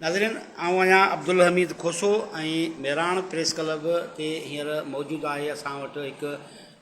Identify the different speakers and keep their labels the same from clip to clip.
Speaker 1: ناظرين آئون آهيان عبدالحميد کوسو ۽ مهراڻ پريس ڪلب تي هينئر موجود آهي اسان وٽ هڪ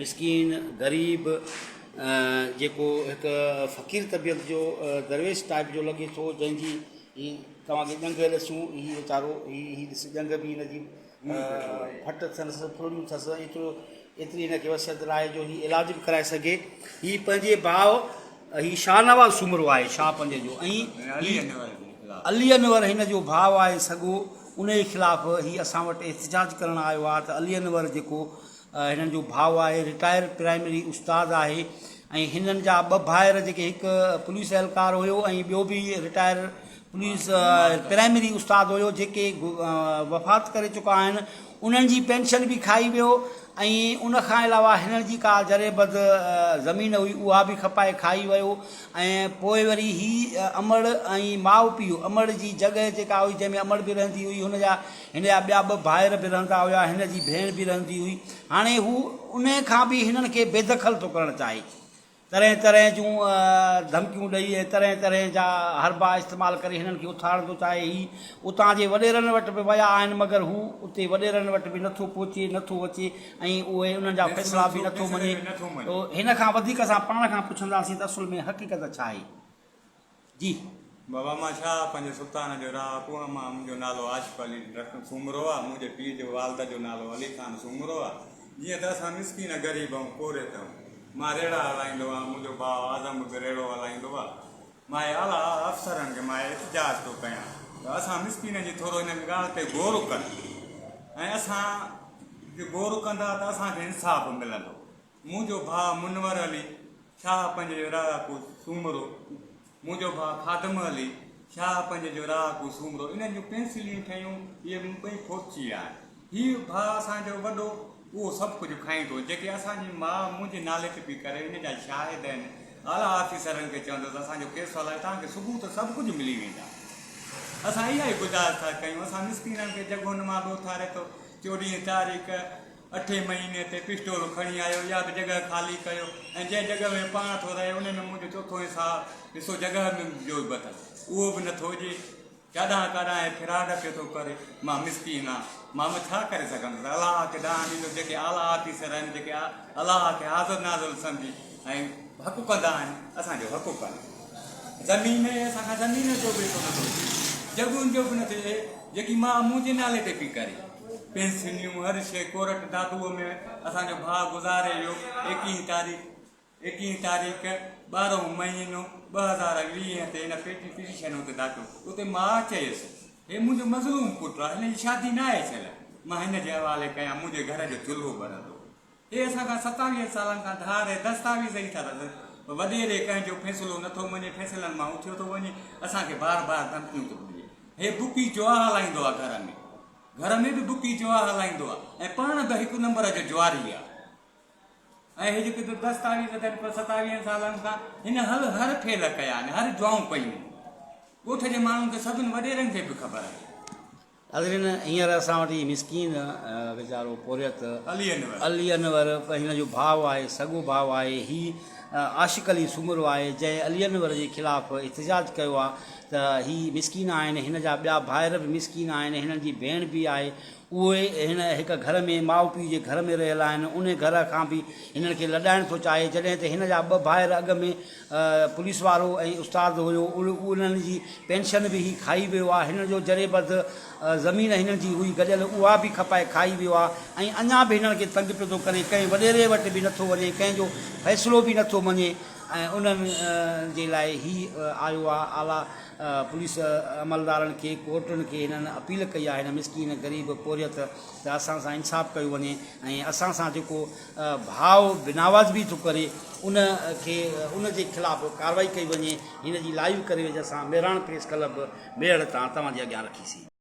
Speaker 1: مسڪين غريب جيڪو هڪ فقير طبيعت جو درويش ٽائپ جو لڳي ٿو جنهنجي هي توهان کي ڄنگهه ڏسون هي ويچارو هي هي ڏس ڄنگهه بي هن جي ڦٽ اٿس ڦڙڙيون اٿس ايترو ايتري هن کي وسعت ناهي جو هي علاج به ڪرائي سگهي هي پنهنجي ڀاء هي شاهنواز سومرو آهي شاهه پنهنجي جو ۽ علي انور هن جو ڀاء آهي سڳو ان جي خلاف هي اسان وٽ احتجاج ڪرڻ آيو آهي ته علي انور جيڪو هنن جو ڀاء آهي رٽائر پرائمري استاد آهي ۽ هنن جا ٻه ڀائر جيڪي هڪ پوليس اهلڪار هيو ۽ ٻيو به رٽائر پوليس پرائمري استاد هيو جيڪي وفات ڪري چڪا آهن انهن جي پينشن به کائي ويو ۽ ان کان علاوه هنن جي ڪا ذري بد زمين هئي اها به کپائي کائي ويو ۽ پوء وري هي امڙ ۽ ماء پيء امڙ جي جڳهه جيڪا هئي جنهن ۾ امڙ به رهندي هئي هن جا هن جا ٻيا ٻه ڀائر به رهندا هيا هن جي ڀيڻ به رهندي هئي هاڻي هو ان کان به هنن کي بيدخل ٿو ڪرڻ چاهي طرح طرح جون ڌمڪيون ڏئي ۽ طرح طرح جا حربا استعمال ڪري هنن کي اٿارڻ ٿو چاهي. هي اتان جي وڏيرن وٽ به ويا آهن مگر هو اتي وڏيرن وٽ به نٿو پهچي، نٿو اچي ۽ اهي انهن جا فيصلا به نٿو مڃي. هن کان وڌيڪ اسان پاڻ کان پڇنداسين ته اصل ۾ حقيقت ڇا آهي؟ جي بابا
Speaker 2: مان ڇا پنهنجي سلطان جو راء اڪو آ مان منهنجو نالو آصف علي رخ سومرو آ منهنجي پيء جي والد جو نالو علي خان سومرو آ جيئن ته اسان مسڪين غريب ۽ پورهيت آهيون مان ريڙها هلائيندو آهيان منهنجو ڀاء اعظم به ريڙهو هلائيندو آ مان اعليٰ افسرن کي مان احتجاج ٿو ڪيان ته اسان مسڪينن جي ٿورو هن ڳالهه تي غور ڪن ۽ اسان جي غور ڪندا ته اسان کي انصاف ملندو منهنجو ڀاء منور علي شاهه پنج جو راهه ڪو سومرو، منهنجو ڀاء خادم علي شاهه پنج جو راهه ڪو سومرو انهن جون پينسليون ٺهيون اهي مون ٻئي ڦرچي آهن. هي ڀاء اسان جو وڏو اهو سڀ ڪجهه کائيندو جيڪي اسان جي ماء منهنجي نالي تي پئي ڪري ان جا شاهد آهن اعليٰ آفيسرن کي چوندس اسان جو ڪيس هلائي توهان کي ثبوت سڀ ڪجهه ملي ويندا اسان اها ئي گذارش ٿا ڪيون اسان مسڪينن کي جڳهون مان به اٿاري ٿو چوڏهين تاريخ اٺين مهيني تي پسٽول کڻي آيو، اها به جڳهه خالي ڪيو ۽ جنهن جڳهه ۾ پاڻ ٿو رهي ان ۾ منهنجو چوٿون ۽ ساهه حصو جڳهه ۾ جو به اٿس اهو به نه ٿو هجي. ڪاڏانهن ڪاڏانهن هي ڦراڊ پيو ٿو ڪري. مان مسڪين آهيان. مان به ڇا ڪري سگهندس. الله کي ڏانهن ڏيندو. جيڪي اعليٰ آفيسر آهن، جيڪي الله کي حاضر ناظر سمجهي ۽ حق ڪندا آهن، اسان جو حق ڪن. زمين اهي اسان کان زمين جو به حصو نه ٿو اچي. جڳهين جو به نه ٿو اچي. جيڪي ماء منهنجي نالي تي پئي ڪري. پينسنيون هر شيء ڪورٽ دادوء ۾ اسان جو ڀاء گذاري ويو ايڪيهين تاريخ ايڪيهين تاريخ ٻارهون مهينو ٻه هزار ويهه تي هن پيٽي پٽيشن اتي داخل اتي ماء چيس هي منهنجو مظلوم پٽ آهي هن جي شادي ناهي ٿيل مان هن جي حوالي ڪيان منهنجي گهر جو چلهو ٻرندو اهي اسان کان ستاويهن سالن کان ڌار ۽ دستاويز ئي ٿا رکن پر وڏيري ڪنهن جو فيصلو نٿو مڃي فيصلن مان اٿيو ٿو وڃي اسان کي بار بار ڌمڪيون ٿو ڏي هي بڪي جوا هلائيندو آهي گهر ۾ گهر ۾ به بڪي جوا هلائيندو آهي ۽ پاڻ به هڪ نمبر جو جواري آهي ۽ هي جيڪي دستاويز اٿن پوء ستاويهن سالن کان هن هل هر فيل ڪيا آهن هر جوائون ڪيون ڳوٺ جي ماڻهن کي سڀن وڏيرن کي به خبر آهي ناظرين
Speaker 1: هينئر اسان وٽ هي مسڪين ويچارو پورهيت علي انور هن جو ڀاء آهي سڳو ڀاء آهي هي عاشق علي سومرو آهي جنهن علي انور جي خلاف احتجاج ڪيو آهي ته هي مسڪين آهن هن جا ٻيا ڀائر به مسڪين آهن هنن جي ڀيڻ به آهي اهي هن هڪ گهر ۾ ماء پيء جي گهر ۾ رهيل آهن ان گهر کان به هنن کي لڏائڻ ٿو چاهي جڏهن ته هن جا ٻه ڀائر اڳ ۾ پوليس وارو ۽ استاد هيو انهن جي پينشن به هي کائي ويو آ هنن جو جري بدھ زمين هنن جي هئي گڏيل اها به کپائي کائي ويو آ ۽ اڃا به هنن کي تنگ پيو ٿو ڪري ڪنهن وڏيري وٽ به نٿو وڃي ڪنهن جو فيصلو به نٿو مڃي ۽ انهن جي لاء هي آيو آ اعليٰ پوليس عملدارن کي ڪورٽن کي هنن اپيل ڪئي آ هن مسڪين غريب پورهيت ته اسان سان انصاف ڪيو وڃي ۽ اسان سان جيڪو ڀاء بنواز به ٿو ڪري ان کي ان جي خلاف ڪاروائي ڪئي وڃي هن جي لائيو ڪريويج اسان مهراڻ پريس ڪلب ميڙ تان توهان جي اڳيان رکيسين.